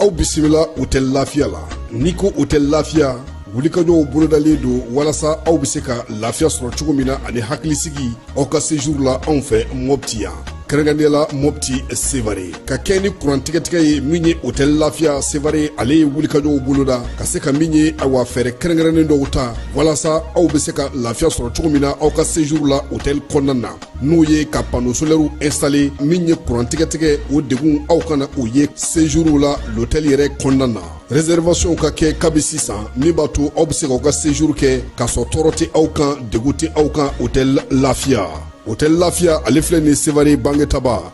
aw bisimila hotɛli lafiya la n'i ko hotɛli lafiya wulikajɔw bolodalen don walasa aw bɛ se ka lafiya sɔrɔ cogo min na ani hakilisigi aw ka sejuru la anw fɛ mɔpti yan kɛrɛnkɛrɛnnenya la mɔpti sevare ka kɛɲɛ ni kuran tigɛtigɛ ye min ye hotɛli lafiya sevare ale ye wulikajɔw boloda ka se ka min ye awa fɛɛrɛ kɛrɛnkɛrɛnnen dɔw ta walasa aw be se ka lafiya sɔrɔ cogo min na aw ka sejuru la hotɛli kɔnɔna na n'o ye ka pano solɛriw ɛnstale min ye kuran tigɛtigɛ o degun aw kana o ye sejuru la lotɛli yɛrɛ kɔnɔna na réservation ka kɛ kabi sisan min b'a to aw be se k'aw ka sejuru kɛ k'a sɔrɔ tɔɔrɔ tɛ aw kan degun tɛ aw kan hotɛli lafiya hotɛli lafiya ale filɛ nin sevare bangetaba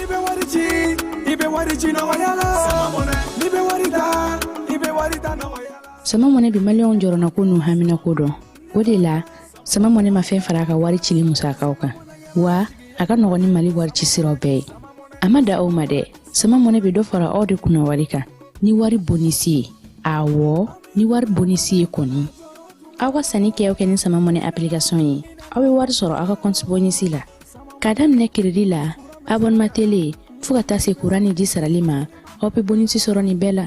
n'i bɛ wari ci i bɛ wari ci nɔgɔya la n'i bɛ wari ta i bɛ wari ta nɔgɔya la. sama mɔnɛ bi maliyɛnw jɔrɔnako n'u haminako dɔn o de la sama mɔnɛ ma fɛn fara a ka wari cili musakaw kan wa a ka nɔgɔn ni mali wari ci siraw bɛɛ ye a ma dan o ma dɛ sama mɔnɛ bɛ dɔ fara aw de kunna wari kan ni wari bonisi ye awɔ ni wari bonisi ye kɔni aw ka sanni kɛ o kɛ ni sama mɔnɛ application ye aw bɛ wari sɔrɔ aw ka kɔnti bonisi la ka daminɛ kiridi la abɔnema tele fɔɔ ka taa se kuran ni ji sarali ma aw be bonisi sɔrɔ nin bɛɛ la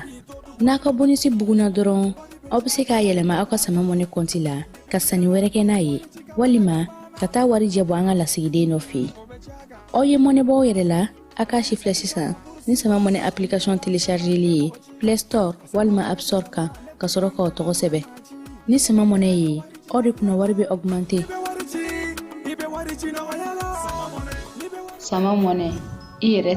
n'a ka bonisi buguna dɔrɔn aw be se k'a yɛlɛma aw ka sama mɔnɛ kɔnti la ka sanni wɛrɛ kɛ n'a ye walima ka taa warijɛ bɔ an ka lasigiden dɔ fɛ aw ye mɔnɛ bɔ aw yɛrɛ la a k'a sifilɛ sisan ni sama mɔnɛ application téléchargeli ye play store walima app store kan ka sɔrɔ k'aw tɔgɔ sɛbɛn ni sama mɔnɛ ye aw de kunna wari bɛ augmente sama mɔnɛ i yɛrɛ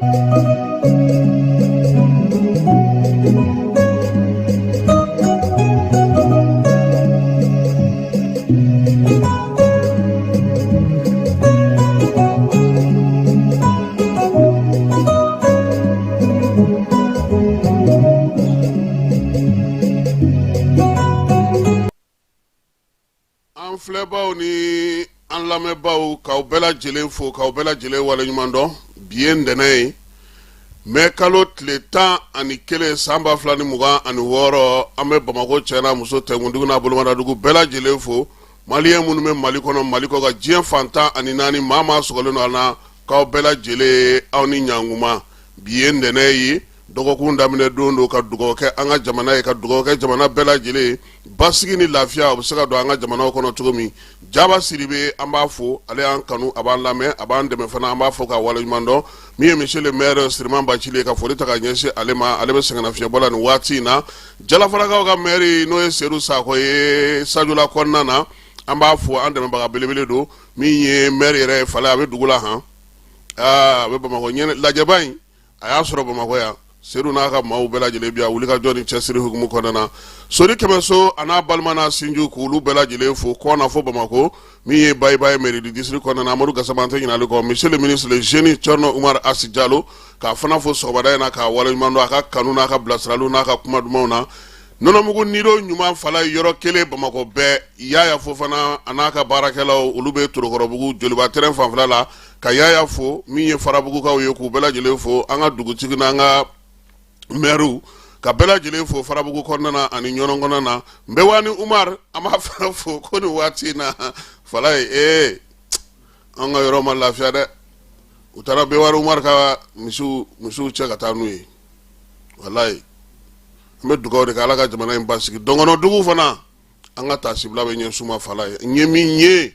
filɛbaw ni an lamɛnbaw k'aw bɛɛ lajɛlen fo k'aw bɛɛ lajɛlen waleɲuman dɔn bi ye ntɛnɛn ye mɛ kalo tile tan ani kelen san ba fila ni mugan ani wɔɔrɔ an bɛ bamakɔ cɛ n'a muso tɛnkundugu n'a bolomadadugu bɛɛ lajɛlen fo maliyɛn minnu bɛ mali kɔnɔ mali kɔkan diɲɛ fan tan ani naani maa maa sɔgɔlen don an na k'aw bɛɛ lajɛlen aw ni ɲankuma bi ye ntɛnɛn ye dɔgɔkun daminɛ don don ka dugawu kɛ an ka jamana ye ka dugawu kɛ jamana bɛɛ lajɛlen ye basigi ni lafiya o bɛ se ka don an ka jamana kɔnɔ cogo min jaba siribe an b'a fo ale y'an kanu a b'an lamɛn a b'an dɛmɛ fana an b'a fo ka waleɲuman dɔn min ye monsieur le maire siriman bacili ka foli ta ka ɲɛsin ale ma ale bɛ sɛgɛnnafiɲɛbɔ la nin waati in na jalafarakaw ka mɛri n'o ye sedu sakɔ ye sajula kɔnɔna na an b'a fo an dɛmɛbaga belebele don min ye mɛri yɛrɛ ye fala a bɛ dugu la han a bɛ bamakɔ lajɛba in a y'a sɔrɔ bamakɔ yan sedu n'a ka maaw bɛɛ lajɛlen bi a wuli ka jɔ ni cɛsiri hukumu kɔnɔna na sori kɛmɛso a n'a balima n'a sinji k' olu bɛɛ lajɛlen fo kɔna fo bamakɔ min ye bayibaye mairie du district kɔnɔna na amadu gasama an tɛ ɲinali kɔ monsieur le ministre le jeune cɛrno umar asi jalo k'a fana fo sɔgɔmada in na k'a waleɲuman dɔn a ka kanu n'a ka bilasiraliw n'a ka kuma dumanw na nɔnɔmugu nido ɲuman fala yɔrɔ kelen bamakɔ bɛɛ yaya fofana a n'a ka baarakɛlaw olu bɛ torokɔrɔbugu joliba terrain fanfɛla la ka yaya fo min ye farabugukaw ye k'u bɛɛ lajɛlen fo an ka dugutigi n'an ka mɛriw ka bɛɛ lajɛlen fo farabugu kɔnɔna ani ɲɔnɔn kɔnɔna na nbɛwani umaru an b'a fana fo ko ni waati in na fala ye ee an ka yɔrɔ ma lafiya dɛ u taara nbɛwani umaru ka misiw misiw cɛ ka taa n'u ye walayi an bɛ dugawu de kɛ ala ka jamana in basigi dɔngɔnɔdugu fana an ka taasibila bɛ ɲɛsin u ma fala ye n ye min ye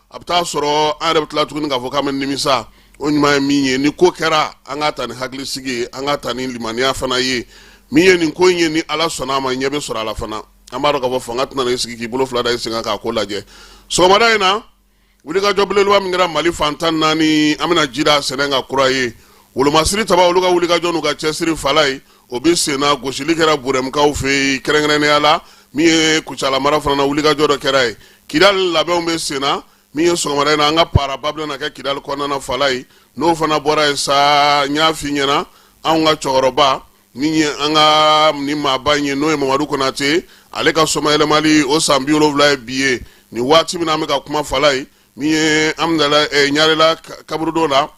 a bɛ taa sɔrɔ an yɛrɛ bɛ tila tuguni k'a fɔ k'an bɛ nimisa o ɲuman ye min ye ni ko kɛra an k'a ta ni hakilisigi ye an k'a ta ni limaniya fana ye min ye nin ko in ye ni ala sɔnna a ma ɲɛ bɛ sɔrɔ a la fana an b'a dɔn k'a fɔ fanga tɛna i sigi k'i bolo fila da i sen kan k'a ko lajɛ sɔgɔmada in na wulikajɔ belebeleba min kɛra mali fan tan naani an bɛna jira sɛnɛ ka kura ye wolomasiri taba olu ka wulikajɔ n'u ka cɛsiri fala ye o bɛ senna gosili kɛra burɛmukaw fɛ yen kɛrɛnkɛrɛnnenya la min ye kucala mara fana wulikajɔ dɔ kɛra yen kidali labɛnw bɛ senna min ye sɔgɔmada in na an ka paraba bɛ na kɛ kidali kɔnɔna fala ye n'o fana bɔra yen sa n y'a f'i ɲɛna an ka cɛkɔrɔba min ye an ka ɲɛmaaba in ye n'o ye mamadu konate ale ka somayɛlɛmali o san bi wolonwula ye bi ye nin waati min an bɛ ka kuma fala ye min ye an ɲarɛla kaburudo la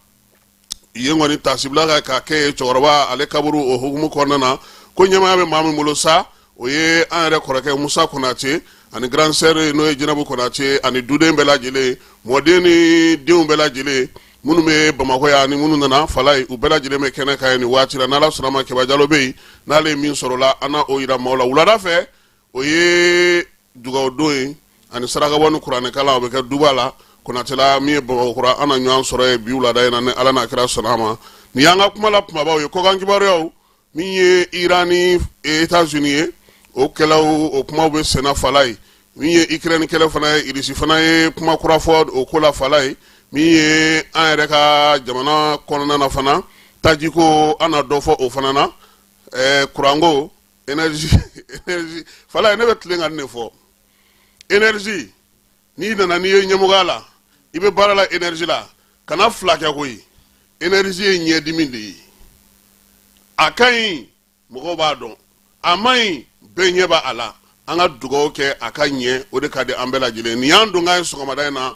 yen kɔni taasibila ka k'a kɛ yen cɛkɔrɔba ale kaburu o hukumu kɔnɔna na ko ɲɛmaya bɛ maa min bolo sa o ye an yɛrɛ kɔrɔkɛ musa konate ani grand sœur n'o ye jinabu konate ani duden bɛɛ lajɛlen mɔden ni denw bɛɛ lajɛlen minnu bɛ bamakɔ yan ni minnu nana fala ye u bɛɛ lajɛlen bɛ kɛnɛ kan yen nin waati la n'ala sɔnna a ma kɛba jalo bɛ yen n'ale ye min sɔrɔ la an na o yira maaw la wulada fɛ o ye dugawudon ye ani sarakabɔ ni kuranɛkalan o bɛ kɛ duba la konatela min ye bamakɔkura an na ɲɔgɔn sɔrɔ yen bi wulada in na ni ala n'a kira sɔnna a ma nin y'an ka kumala kumabaw ye kɔkan kibaruyaw min ye iran ni etazini o kɛlɛ o kuma bɛ senna fala ye min ye ikirɛni kɛlɛ fana ye irisi fana ye kuma kura fɔ o ko la fala ye min ye an yɛrɛ ka jamana kɔnɔna fana tajiko an na dɔ fɔ o fana na kuranko falayi ne bɛ tilen ka nin fɔ energie n'i nana n'i ye ɲɛmɔgɔya la i bɛ baara la energie la kana fila kɛ koyi energie ye ɲɛdimi de ye a ka ɲi mɔgɔw b'a dɔn a man ɲi bɛɛ ɲɛ b'a la an ka dugawu kɛ a ka ɲɛ o de ka di an bɛɛ lajɛlen nin y'an don k'a ye sɔgɔmada in na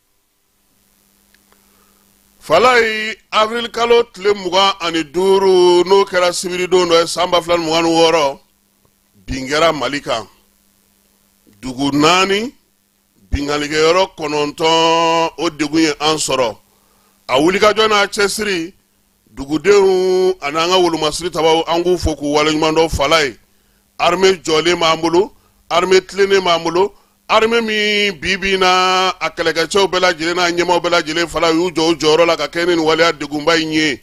falayi avril kalo tile mugan ani duuru n'o kɛra sibiridon dɔ ye san ba fila ni mugan ni wɔɔrɔ bin kɛra mali kan dugu naani binkannikɛyɔrɔ kɔnɔntɔn o degun ye an sɔrɔ a wulikajɔ n'a cɛsiri dugudenw ani an ka wolomasiri tabaw an k'u fo k'u waleɲumandɔn falayi armée jɔlen b'an bolo armée tilennen b'an bolo armée min bi bi in na a kɛlɛkɛcɛw bɛɛ lajɛlen n'a ɲɛmaaw bɛɛ lajɛlen fala u y'u jɔ u jɔyɔrɔ la ka kɛɲɛ ni nin waleya degunba in ye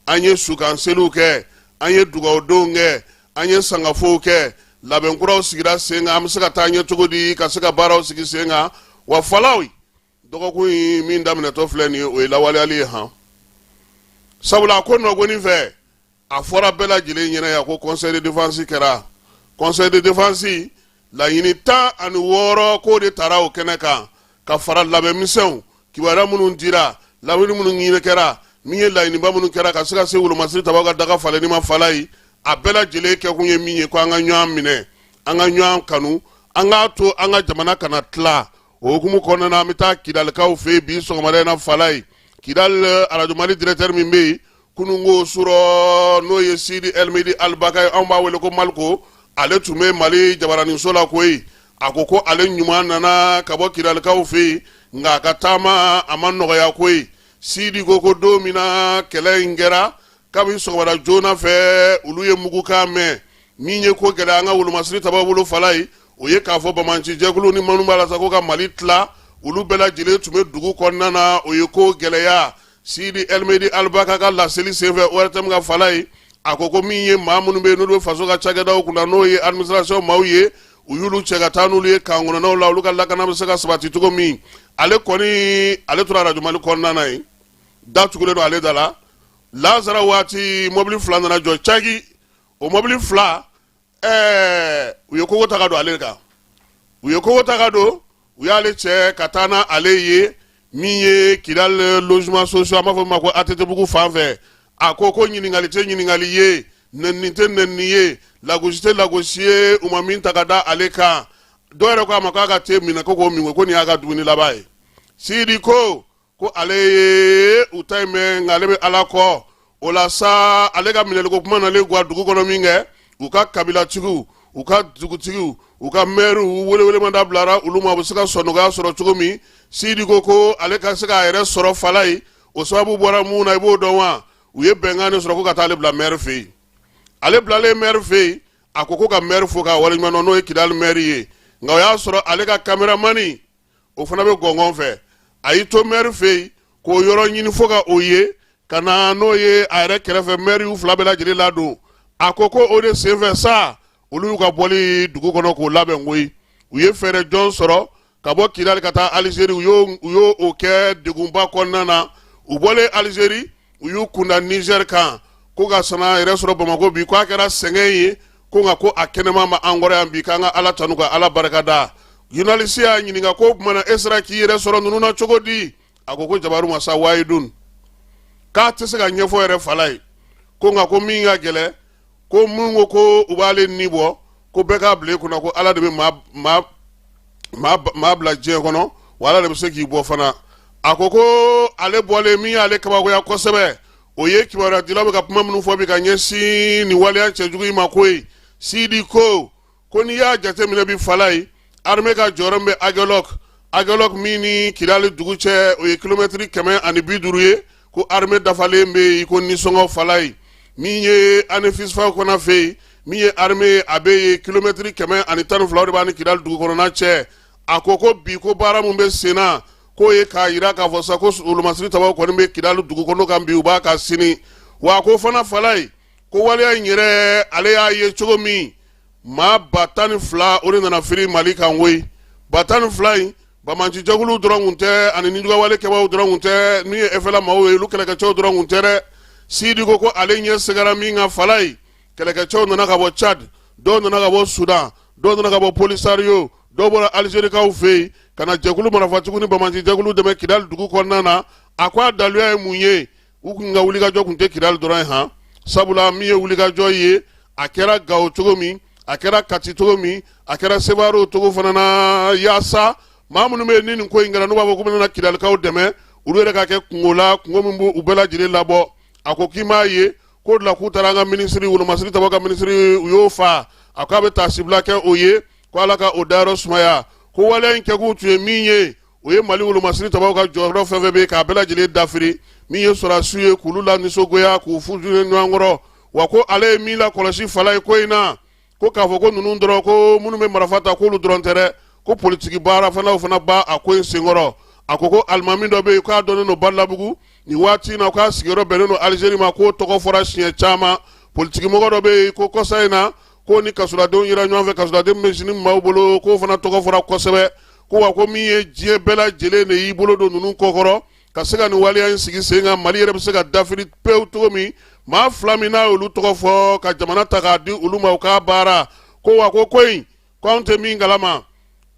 an ye sukanseliw kɛ an ye dugawudonw kɛ an ye sangafow kɛ labɛn kuraw sigira sen kan an bɛ se ka taa ɲɛ cogo di ka se ka baaraw sigi sen kan wa falayi dɔgɔkun in min daminɛtɔ filɛ nin ye o ye lawaleyali ye han sabula a ko nɔgɔnin fɛ a fɔra bɛɛ lajɛlen ɲɛna yan ko conseil de défense kɛra conseil de défense laɲini tan ani wɔɔrɔ k'o de tara o kɛnɛ kan ka fara labɛn misɛnw kibaruya minnu dira lawuli minnu ɲini kɛra min ye laɲiniba minnu kɛra ka se ka se wolomasiri tabaw ka daga falenni ma falayi a bɛɛ lajɛlen kɛkun ye min ye ko an ka ɲɔgɔn minɛ an ka ɲɔgɔn kanu an k'a to an ka jamana kana tila o hukumu kɔnɔna na an bɛ taa kidalikaw fɛ yen bi sɔgɔmada in na falayi kidali arajo mali directeur min bɛ yen kununko surɔ n'o ye sidi elmehdi albaka ye anw b'a wele ko maliko ale tun bɛ mali jabaraniso la koyi a ko ko ale ɲuman nana ka bɔ kidalikaw fɛ yen nka a ka taama a ma nɔgɔya koyi sidi ko ko don min na kɛlɛ in kɛra kabini sɔgɔmada joona fɛ olu ye mugukan mɛn min ye ko gɛlɛya an ka wolomasiri tabaw bolo falayi o ye k'a fɔ banbaanci jɛkulu ni minnu b'a la sa ko ka mali tila olu bɛɛ lajɛlen tun bɛ dugu kɔnɔna na o ye ko gɛlɛya sidi elmehdi albaka ka laseli senfɛ ortm kan falayi a ko ko min ye maa minnu bɛ yen n'olu bɛ faso ka cakɛdaw kunna n'o ye administration maaw ye u y'olu cɛ ka taa n'olu ye camp kɔnɔnaw la olu ka lakana bɛ se ka sabati cogo min ale kɔni ale tora arajo mali kɔnɔna na yen da tugulen don ale da la lazara waati mɔbili fila nana jɔ caki o mɔbili fila ɛɛ u ye kogo ta ka don ale kan u ye kogo ta ka don u y'ale cɛ ka taa n'ale ye min ye kidal logement social an b'a fɔ min ma ko atetebugu fan fɛ a ko ko ɲininkali tɛ ɲininkali ye nɛnini tɛ nɛnini ye lagosi tɛ lagosi ye u ma min ta ka da ale kan dɔw yɛrɛ ko a ma k'a ka te minɛ ko k'o min ko ko nin y'a ka dumuni laban ye sidi ko ko ale ye u ta in mɛn nka ale bɛ ala kɔ o la sa ale ka minɛliko kuma nalen ga dugu kɔnɔ min kɛ u ka kabilatigiw u ka dugutigiw u ka mɛriw welewelemada bilara olu ma u bɛ se ka sɔnɔgɔya sɔrɔ cogo min sidi ko ko ale ka se k'a yɛrɛ sɔrɔ fala ye o sababu bɔra mun na i b'o dɔn wa u ye bɛnkan de sɔrɔ ko ka taa ale bila mɛri fɛ yen ale bilalen mɛri fɛ yen a ko ko ka mɛri fo k'a waleɲuman dɔn n'o ye kidali mɛri ye nka o y'a sɔrɔ ale ka kameramani o fana bɛ gɔngɔn fɛ a y'i to mɛri fɛ yen k'o yɔrɔ ɲini fo ka o ye ka na n'o ye a yɛrɛ kɛrɛfɛ mɛri y'u fila bɛɛ lajɛlen ladon a ko ko o de senfɛ sa olu y'u ka bɔli dugu kɔnɔ k'o labɛn koyi u ye fɛɛrɛ jɔn sɔrɔ ka bɔ kidali ka taa alizeri u y'o kɛ degunba kɔnɔna na u bɔlen alizeri u y'u kunda nizɛri kan ko ka sana yɛrɛ sɔrɔ bamakɔ bi ko a kɛra sɛgɛn ye ko nka ko a kɛnɛman b'an kɔrɔ yan bi k'an ka ala tanu ka ala barikada zurunalisi y'a ɲininka ko kuma na e sera k'i yɛrɛ sɔrɔ ninnu na cogo di a ko ko jabaru masa wahidun k'a tɛ se k'a ɲɛfɔ yɛrɛ fala ye ko nka ko min ka gɛlɛn ko min ko ko u b'ale ni bɔ ko bɛɛ k'a bila i kunna ko ala de bɛ maa bila diɲɛ kɔnɔ wa ala de bɛ se k'i bɔ fana a ko ko ale bɔlen min y'ale kabakoya kosɛbɛ o ye kibaruya dilaw bɛ ka kuma minnu fɔ bi ka ɲɛsin nin waleya cɛjugu in ma koyi sidi ko ko n'i y'a jateminɛ bi fala ye armée ka jɔyɔrɔ min bɛ agɛlɔk agɛlɔk min ni kidali dugu cɛ o ye kilomɛtiri kɛmɛ ani bi duuru ye ko armée dafalen bɛ yen ko nisɔngɔ fala ye min ye anefis fan kɔnɔ fɛ yen min ye armée ye a bɛ yen kilomɛtiri kɛmɛ ani tan ni fila de b'a ni kidali dugu kɔnɔna cɛ a ko ko bi ko baara min bɛ sen na k'o ye k'a jira k'a fɔ sa ko wolomasiri tabaw kɔni bɛ kidali dugu kɔnɔ kan bi u b'a kan sini wa ko fana fala ye ko waleya in yɛrɛ ale y'a ye cogo min maa ba tan ni fila o de nana firi mali kan koyi ba tan ni fila in banbaanci jɛkulu dɔrɔn kun tɛ ani nijuguwale kɛbaaw dɔrɔn kun tɛ min ye efɛla maaw ye olu kɛlɛkɛcɛw dɔrɔn kun tɛ dɛ sidi ko ko ale ɲɛ seginna min kan fala ye kɛlɛkɛcɛw nana ka bɔ cadi dɔw nana ka bɔ sudan dɔw nana ka bɔ polisariyo dɔw bɔra alizerikaw fɛ yen ka na jɛkulu marafatigiw ni banbaanci jɛkulu dɛmɛ kidali dugu kɔnɔna na a ko a daluya ye mun ye u kun ka wulikajɔ kun tɛ kidali dɔrɔn ye han sabula min ye wulikajɔ ye a kɛra gawo cogo min a kɛra kati cogo min a kɛra sewarɛ o cogo fana na yaasa maa minnu bɛ yen ni nin ko in kɛra n'u b'a fɔ k'u bɛna kidalikaw dɛmɛ olu yɛrɛ ka kɛ kunko la kunko min b'u bɛɛ lajɛlen labɔ a ko k'i m'a ye k'o de la k'u taara an ka minisiri wolomasiri tabaw ka minisiri u y'o fa a ko a bɛ taasibila kɛ o ye ko ala ka o dayɔrɔ sumaya ko waleya in kɛkun tun ye min ye o ye mali wolomasiri tabaw ka jɔyɔrɔ fɛn fɛn bɛ k'a bɛɛ lajɛlen dafiri min ye sɔrɔdasiw ye k'olu lanisɔngoya k'u funun ɲɔgɔn kɔrɔ wa ko ale ye min lakɔlɔsi fala ye ko in na ko k'a fɔ ko ninnu dɔrɔn ko minnu bɛ marifa ta k'olu dɔrɔn tɛ dɛ ko politiki baara fanaw fana b'a ko in senkɔrɔ a ko ko alimami dɔ bɛ yen k'a dɔnnen don badalabugu nin waati in na k'a sigiyɔrɔ bɛnnen don alizeri ma k'o tɔgɔ fɔra siɲɛ caman politikimɔgɔ dɔ bɛ yen ko kɔsa in na k'o ni kasoladenw yera ɲɔgɔn fɛ kasoladen bɛ JNIM maaw bolo k'o fana tɔgɔ fɔra kosɛbɛ ko wa ko min ye diɲɛ bɛɛ lajɛlen de y'i bolo don ninnu kɔkɔrɔ ka se ka nin waleya in sigi sen kan mali yɛrɛ bɛ se ka dafiri pewu cogo min maa fila min n'a y'olu tɔgɔ fɔ ka jamana ta k'a di olu ma u k'a baara ko wa ko ko in ko anw tɛ min kalama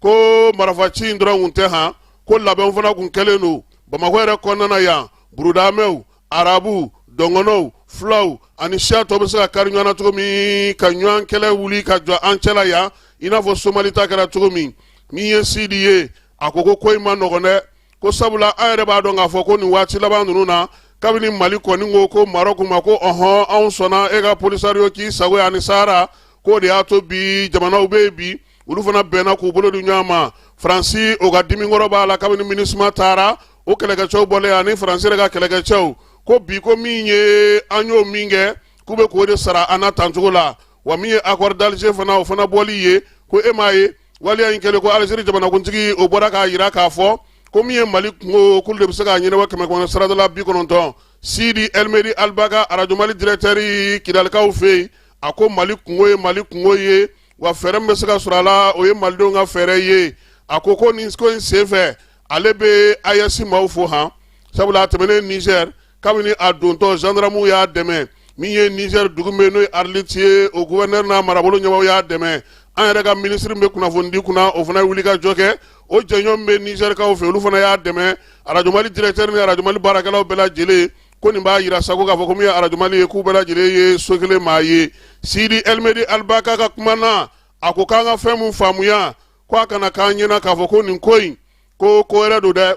ko marafaci in dɔrɔn kun tɛ han ko labɛnw fana kun kɛlen don bamakɔ yɛrɛ kɔnɔna na yan burudamɛw arabu dɔngɔnɔw fulaw ani siya tɔ bɛ se ka kari ɲɔgɔn na cogo min ka ɲɔgɔn kɛlɛ wuli ka jɔ an cɛla yan i n'a fɔ somali ta kɛra cogo min min ye sidi ye a ko ko ko in ma nɔgɔn dɛ ko sabula an yɛrɛ b'a dɔn k'a fɔ ko nin waati laban ninnu na kabini mali kɔni ko ko marɔku ma ko ɔhɔn anw sɔnna e ka polisario k'i sago ani sahara k'o de y'a to bi jamanaw bɛ yen bi olu fana bɛnna k'u bolo di ɲɔgɔn ma faransi o ka dimikɔrɔ b'a la kabini minusma taara o kɛlɛkɛcɛw bɔlen ani faransi yɛrɛ ka kɛlɛkɛcɛw ko bi ko min ye an y'o min kɛ k'u bɛ k'o de sara an na tan cogo la wa min ye accord d'Alger fana o fana bɔli ye ko e m'a ye waleya in kɛlen ko Algérie jamanakuntigi o bɔra k'a jira k'a fɔ ko min ye Mali kungo k'olu de bɛ se k'a ɲɛnabɔ kɛmɛ kɔnɔ sarada la bi kɔnɔntɔn Sidi Elmehdi Albaka Arajo Mali directeur Kidalikaw fɛ yen a ko Mali kungo ye Mali kungo ye wa fɛɛrɛ min bɛ se ka sɔrɔ a la o ye malidenw ka fɛɛrɛ ye a ko ko nin ko in senfɛ ale bɛ AES maaw fo han sabula a tɛmɛnen nizɛri kabini a dontɔ zandaramuw y'a dɛmɛ min ye nizɛri dugu min n'o ye ariliti ye o guvɛrinɛri n'a marabolo ɲɛmɔgɔw y'a dɛmɛ an yɛrɛ ka minisiri min bɛ kunnafonidi kunna o fana ye wulikajɔ kɛ o jɛɲɔgɔn min bɛ nizɛrikaw fɛ olu fana y'a dɛmɛ arajo mali dirɛkitɛri ni arajo mali baarakɛlaw bɛɛ lajɛlen ko nin b'a jira sago k'a fɔ ko min ye arajo mali ye k'u bɛɛ lajɛlen ye so kelen maa ye sidi ɛlimedi alibaka ka kuma na a ko k'an ka fɛn mun faamuya ko a kana k'an ɲɛna k'a fɔ ko nin ko in ko ko wɛrɛ don dɛ